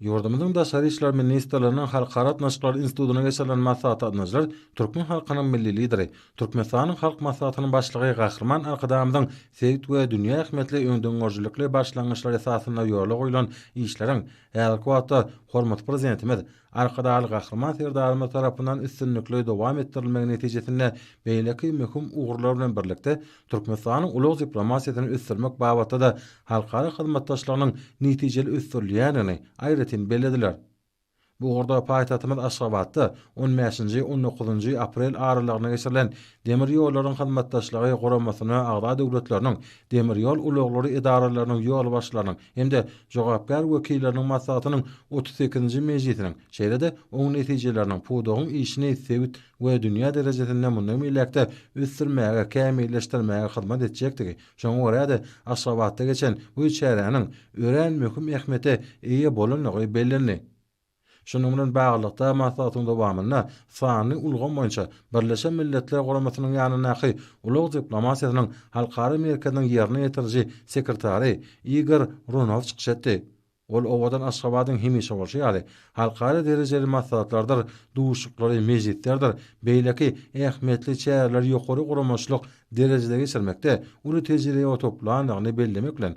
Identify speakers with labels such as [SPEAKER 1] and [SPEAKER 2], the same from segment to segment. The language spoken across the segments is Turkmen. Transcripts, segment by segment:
[SPEAKER 1] Ýurdumyzyň Daşary işler ministrliginiň Halkara gatnaşyklary institutyna geçirilen maslahata gatnaşyjylar türkmen halkynyň Milli Lideri, Türkmenistanyň Halk Maslahatynyň Başlygy Gahryman Arkadagymyzyň sebit we dünýä ähmiýetli öňdengörüjilikli başlangyçlary esasynda ýola goýlan işleriň häzirki wagtda hormatly Prezidentimiz Arkadagly Gahryman Serdarymyz tarapyndan üstünlikli dowam etdirilmegi netijesinde beýleki möhüm ugurlar bilen birlikde, Türkmenistanyň ulag diplomatiýasyny ösdürmek babatda-da halkara hyzmatdaşlygynyň netijeli ösdürilýändigini aýratyn bellediler. Bu ugurda paýtagtymyz Aşgabatda on bäşinji, on dokuzynjy aprel aralygynda geçirilen Demir ýollaryň hyzmatdaşlygy guramasyna agza döwletleriniň demir ýol ulaglary edaralarynyň ýolbaşçylarynyň hem-de jogapkär wekilleriniň maslahatynyň otuz sekizinji mejlisiniň, şeýle-de oň netijeleriniň pudagyň işini sebit we dünýä derejesinde mundan beýläk-de ösdürmäge, kämilleşdirmäge hyzmat etjekdigi, şoňa görä-de, Aşgabatda geçen bu çäräniň örän möhüm ähmiýete eýe bolandygy bellendi. Şunuň bilen baglylykda, maslahatyň dowamynda sanly ulgam boýunça Birleşen Milletler Guramasynyň ýanyndaky Ulag diplomatiýasynyň halkara merkeziniň ýerine ýetiriji sekretary Igor Runow çykyş etdi. Ol owadan Aşgabadyň hemişe bolşy ýaly, halkara derejeli maslahatlardyr duşuşyklary, mejlislerdir beýleki ähmiýetli çäreleri ýokary guramaçylyk derejede geçirmekde uly tejribe toplandygyny bellemek bilen,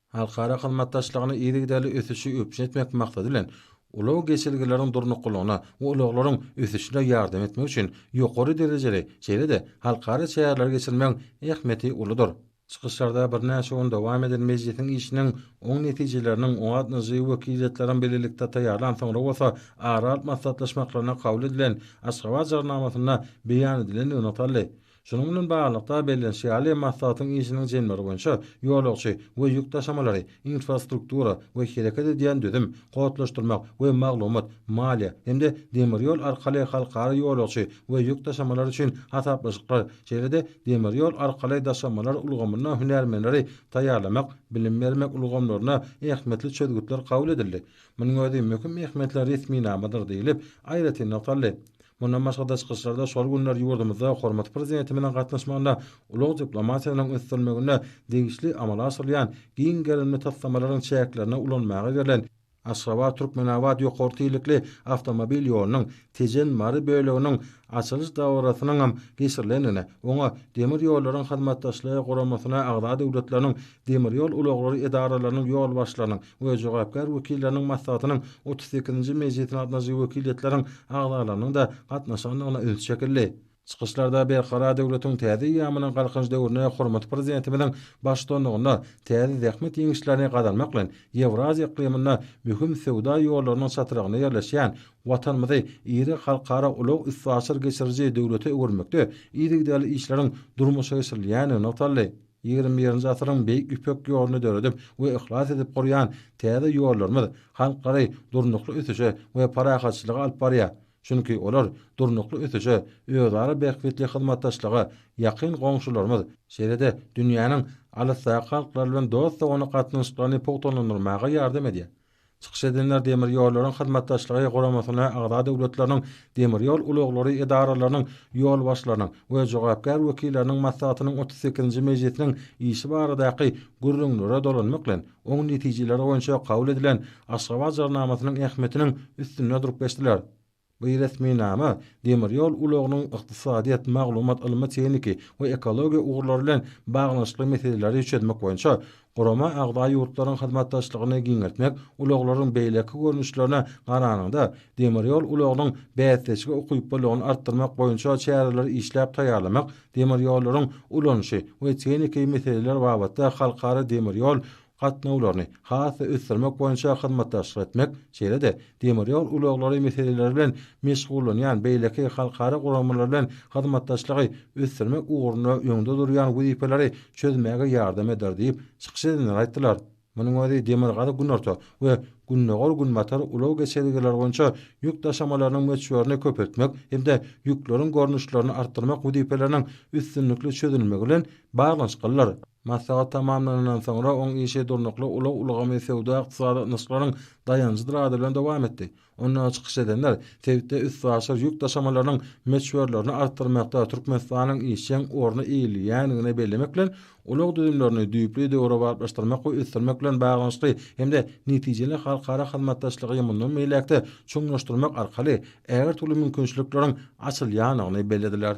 [SPEAKER 1] Halkara hyzmatdaşlygyny yzygiderli ösüşi üpjün etmek maksady bilen, ulag geçelgeleriniň durnuklylygyna we ulaglaryň ösüşine ýardam etmek üçin ýokary derejeli, şeýle-de halkara çäreleri geçirmegiň ähmiýeti uludyr. Çykyşlarda birnäçe gün dowam eden mejlisiň işiniň oň netijeleriniň oňatnyjy wekiliýetleriň bilelikde taýýarlan, soňra bolsa ara alyp maslahatlaşmaklarynda kabul edilen Aşgabat Jarnamasynda beýan edilendigi nygtaldy. Şunuň bilen baglylykda, bellenişi ýaly, maslahatyň işiniň jemleri boýunça ýolagçy we ýük daşamalary, infrastruktura we hereket edýän düzüm, kodlaşdyrmak we maglumat, maliýe hem-de demir ýol arkaly halkara ýolagçy we ýük daşamalary üçin hasaplaşyklar, şeýle-de demir ýol arkaly daşamalar ulgamyna hünärmenleri taýýarlamak, bilim bermek ulgamlaryna ähmiýetli çözgütler kabul edildi. Munuň özi möhüm ähmiýetli resminamadyr diýlip, aýratyn nygtaldy. Mundan başga-da çykyşlarda şol günler ýurdumyzda hormatly Prezidentimiziň gatnaşmagynda ulag diplomatiýasynyň ösdürilmeginde degişli amala aşyrylýan giň gerimli taslamalaryň çäklerinde ulanmaga berlen Aşgabat, Türkmenabat ýokary tizlikli awtomobil ýolunyň Tejen, Mary böleginiň açylyş dabarasynyňam geçirilendigine, oňa Demir ýollaryň Hyzmatdaşlygy Guramasyna agza döwletleriniň Demir ýol ulaglary edaralarynyň ýolbaşçylarynyň we jogapkär wekilleriniň maslahatynyň otuz sekizinji mejlisine gatnaşyjy wekiliýetleriň agzalarynyň-da gatnaşandygyna üns çekildi. Çykyşlarda Berkarar döwletiň täze eýýamynyň Galkynyş döwründe hormatly Prezidentimiziň baştutanlygynda täze zähmet ýeňişlerini gazanmak bilen, Ýewraziýa yklymynda möhüm söwda ýollarynyň çatrygynda ýerleşýän Watanymyzy iri halkara ulag-üstaşyr geçiriji döwlete öwürmekde yzygiderli işleriň durmuşa geçirilýändigi nygtaldy. Ýigrimi birinji asyryň Beýik Ýüpek ýoluny döredip we yhlas edip gurýan täze ýollarymyz halklary durnukly ösüşe we parahatçylyga alyp barýar, çünki olar durnukly ösüşe, özara bähbitli hyzmatdaşlyga ýakyn goňşularymyz, şeýle-de dünýäniň alysdaky halklary bilen dost-doganlyk gatnaşyklaryny pugtalandyrmaga ýardam edýär. Çykyş edenler Demir ýollaryň hyzmatdaşlygy guramasyna agza döwletleriniň demir ýol ulaglary edaralarynyň ýolbaşçylarynyň we jogapkär wekilleriniň maslahatynyň otuz sekizinji mejlisiniň işi baradaky gürrüňlere dolanmak bilen, oň netijeleri boýunça kabul edilen Aşgabat jarnamasynyň ähmiýetiniň üstünde durup geçdiler. Bu resminama demir ýol ulagynyň ykdysadyýet, maglumat, ylmy-tehniki we ekologiýa ugurlary bilen baglanyşykly meseleleri çözmek boýunça gurama agza ýurtlaryň hyzmatdaşlygyny giňeltmek, ulaglaryň beýleki görnüşlerine garanyňda, demir ýol ulagynyň bäsdeşlige ukyplylygyny artdyrmak boýunça çäreleri işläp taýýarlamak, demir ýollaryň ulanyşy we tehniki meseleler babatda halkara demir ýol gatnawlaryny has-da ösdürmek boýunça hyzmatdaşlyk etmek, şeýle-de demir ýol ulaglary meseleleri bilen meşgullanýan beýleki halkara guramalary bilen hyzmatdaşlygy ösdürmek ugrunda öňde durýan wezipeleri çözmäge ýardam eder diýip, çykyş edenler aýtdylar. Munuň özi Demirgazyk-Günorta we Gündogar-Günbatar ulag geçelgeleri boýunça ýük daşamalarynyň möçberini köpeltmek hem-de ýükleriň görnüşlerini artdyrmak wezipeleriniň üstünlikli çözülmegi bilen baglanyşyklydyr. Maslahat tamamlanandan soňra oň işi durnukly ulag ulgamy söwda-ykdysady gatnaşyklaryň daýanjydyr ady bilen dowam etdi. Onda çykyş edenler sebitde üstaşyr ýük daşamalarynyň möçberlerini artdyrmakda Türkmenistanyň işjeň orny eýeleýändigini bellemek bilen, ulag düzümlerini düýpli döwrebaplaşdyrmak we ösdürmek bilen baglanyşykly hem-de netijeli halkara hyzmatdaşlygy mundan beýläk-de çuňlaşdyrmak arkaly ägirt uly mümkinçilikleriň açylýandygyny bellediler.